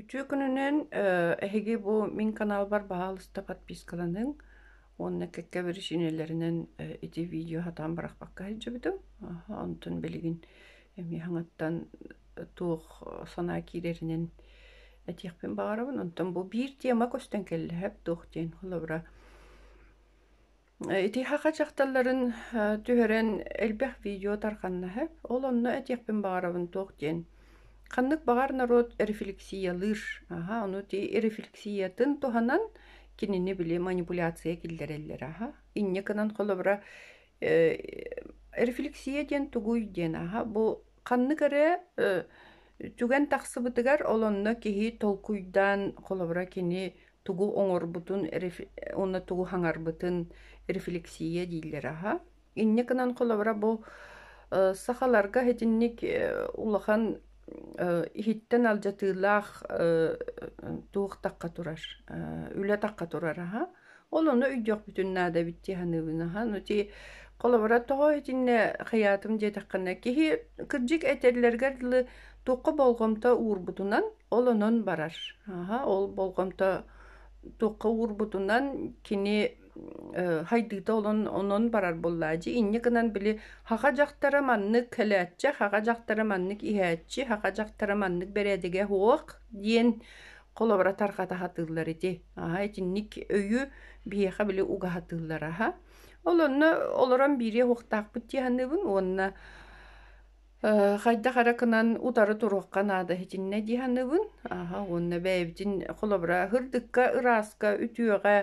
Үтүө күнүнэн, эһиги бу мин каналбар баһаалыста подпискаланыҥ уонна кэккэ биричиинэлэринэн ити видео сатаан бырахпакка сылдьыбытым. Онтон билигин эмиэ саҥаттан туох санаа киирэринэн этиэхпин баҕарабын. Онтон бу биир тема көстөн кэллэ, «Сөп» туох диэн холобура Итиһаха дьахталларын түһэрэн элбэх видео тарҕаннаһы, ол онно этиэхпин баҕарабын туох диэн. Ханнык баҕар норуот рефлексиялыыр, аһа, ону ти рефлексиятын туһанан кинини били манипуляция киллэрэллэр аһа. Инньэ гынан холобура рефлексия диэн тугуй диэн аһа бу ханнык эрэ түгэн тахсыбытыгар ол онно киһи толкуйдаан холобура кини тугу оҥорбутун уонна тугу хаҥарбытын рефлексия дииллэр аха инньэ гынан холобура бу сахаларга итинник улахан иһиттэн алдьатыылаах туохтахха турар үлэтахха турар аха ол ону өйдүөхпүтүн наада эбит дии саныыбын аха ну ти холобура тоҕо итиннэ хыйаатым диэтэххинэ киһи кырдьык этэллэргэр дылы туохха болҕомто уурбутунан Ол онон барар. Аха, ол болҕомто туохха уурбутунан кини хайдыыта олон онон барар буоллаа дьи инньэ гынан били хаха дьахтара маннык кэлээччи хаха дьахтара маннык иһээччи хаха дьахтара маннык бэрээдэгэ хуох диэн холобура тархата хатыыллар ити аха итинник өйү биһиэхэ били угаһатыыллар аха ол онно олорон биириэ уохтаахпыт диэханыыбын уонна Э, хайдах эрэ кынан утары туруохха наада итиннэ дии саныыбын. Аха, уонна бэйэбитин холобура һырдыкка, ырааска, үтүөҕэ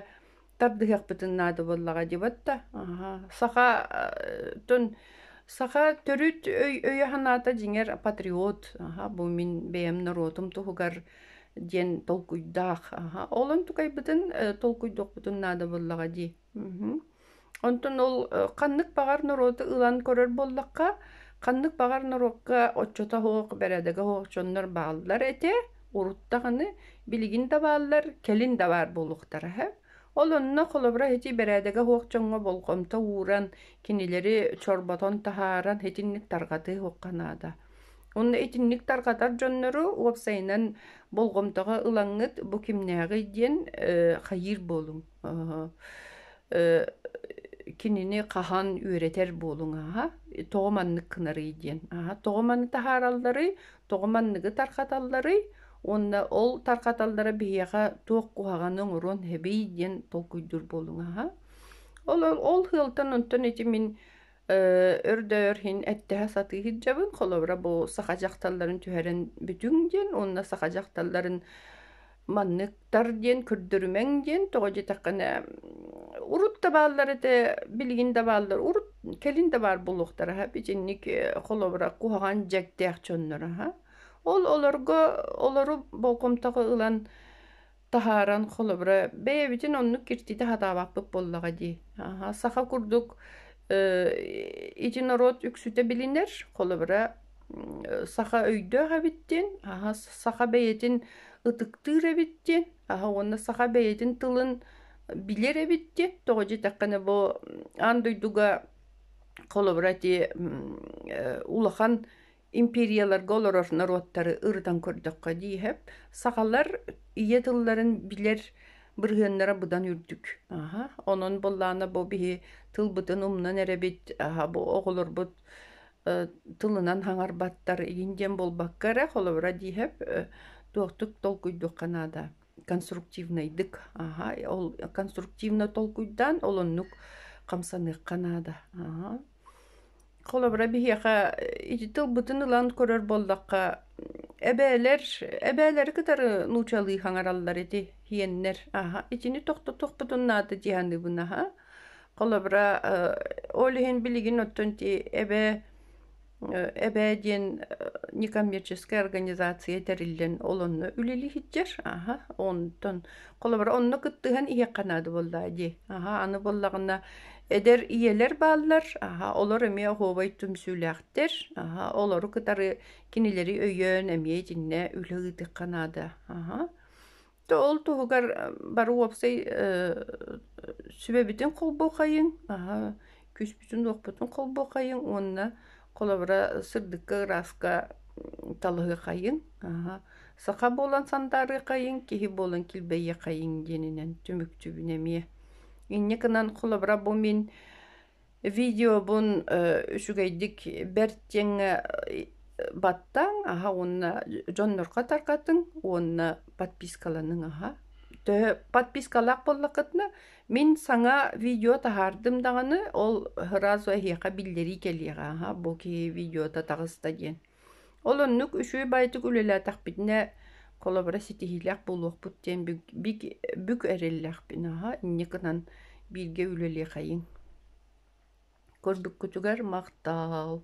тардыһыахпытын наада буоллаҕа дибатта. Аха, саха э, тон саха төрүт өй өйө-санаата дьиҥэр патриот. Аха, бу мин бэйэм норуотум туһугар диэн толкуйдаах. Аха, олон тукайбытын э, толкуйдуохпутун наада буоллаҕа дии. Онтон ол ханнык баҕар норуоту ылан көрөр буоллахха, ханнык баҕар норуокка оччото суох, бэрээдэгэ суох дьоннор бааллар этэ, урут даҕаны билигин да бааллар, кэлин да баар буолуохтара үһү. Ол онно холобура ити бэрээдэгэ суох дьоҥҥо болҕомто ууран, кинилэри чорботон таһааран итинник тарҕатыы суохха наада. Онно итинник тарҕатар дьоннору уопсайынан болҕомтоҕо ылаҥҥыт бу кимнээҕий диэн хайыыр буолуҥ? кинини хаһан үөрэтэр буолуҥ аһа тоҕо маннык гынарый диэн аһа тоҕо маны таһааралларый тоҕо манныгы тарҕаталларый уонна ол тарҕаталлара биһиэхэ туох куһаҕаны оҥоруон эбий диэн толкуйдуур буолуҥ аһа ол ол сыалтан онтон ити мин Э, өр да өр иһин эттэһэ сатыы сылдьабын. Холобура бу саха дьахталларын түһэрэн бүтүҥ диэн уонна саха дьахталларын манныктар диэн көрдөрүмэҥ диэн тоҕо диэтэххинэ урут да бааллар этэ билигин да бааллар урут кэлин да баар буолуохтара аһа итинник э, холобура куһаҕан дьэктээх дьоннор аһа ол олорго олору болҕомтоҕо ылан таһааран, холобура, бэйэбитин оннук киртитэ сатаабаппыт буоллаҕа дии. Аха, саха курдук э, ити норуот үксүтэ билинэр, холобура, м, саха өйдөөх эбиттин, аха, саха бэйэтин ытыктыыр эбиттин, аха уонна саха бэйэтин тылын билэр эбиттин, тоҕо диэтэххинэ бу м, аан дойдуга холобура ити м, э, улахан империяларга олорор норуоттары ырытан көрдөххө дииһэп сахалар ийэ тылларын билэр бырыһыаннара быдан үрдүк аха онон боллаана бу биһи тылбытын умнан эрэбит аха бу оҕолорбут тылынан хаҥарбаттар игин диэн буолбакка эрэ холобура дииһэп туохтук толкуйдуохха наада конструктивнайдык аха ол конструктивно толкуйдаан олоннук хамсаныахха наада аха Холобура, биһиэхэ ити тылбытын ылан көрөр буоллахха, эбээлэр, эбээлэри кытары нуучалыы хаҥараллар ити иһиэннэр. Аһа, итини тохтотуохпутун наада дии саныыбын, аһа. Холобура, ол иһин билигин оттон ити эбээ, эбээ диэн некоммерческай организация тэриллэн, ол онно үлэлиһиттэр, аһа, онтон холобура, онно кыттыһан иһиэххэ наада буоллаҕа дии. Аһа, аны буоллаҕына Эдэр ийэлэр бааллар, аһа, олор эмиэ оһуобай түмсүүлээхтэр, аһа, олору кытары кинилэри өйөөн эмиэ итиннэ үлэ ыытыхха наада, аһа. То ол туһугар бары уопсай сүбэбитин холбуохайыҥ, аһа, күүспүтүн-уохпутун холбуохайыҥ уонна Холобура, сырдыкка, ырааска талыһыахайыҥ, аһа, саха буолан сандаарыахайыҥ, киһи буолан килбэйиэхайыҥ диэнинэн түмүкчүбүн эмиэ. Инньэ гынан, холобура, бу мин видеобун үчүгэйдик бэрт диэҥҥэ баттааҥ, аһа уонна дьоннорго тарҕатыҥ уонна подпискаланыҥ, аһа. Төһө подпискалаах буоллаххытына, Мин саҥа видео таһаардым даҕаны, ол сразу эһиэхэ биллэрии кэлиэҕэ, аха, бу киһи видеота таҕыста диэн. Ол оннук үчүгэй баайдык үлэлээтэхпитинэ, холобура, ситиһиилээх буолуохпут диэн бүк, бүк, бүк эрэллээхпин, аха, инньэ гынан бииргэ үлэлиэхэйиҥ. Көрбүккүтүгэр махтаал.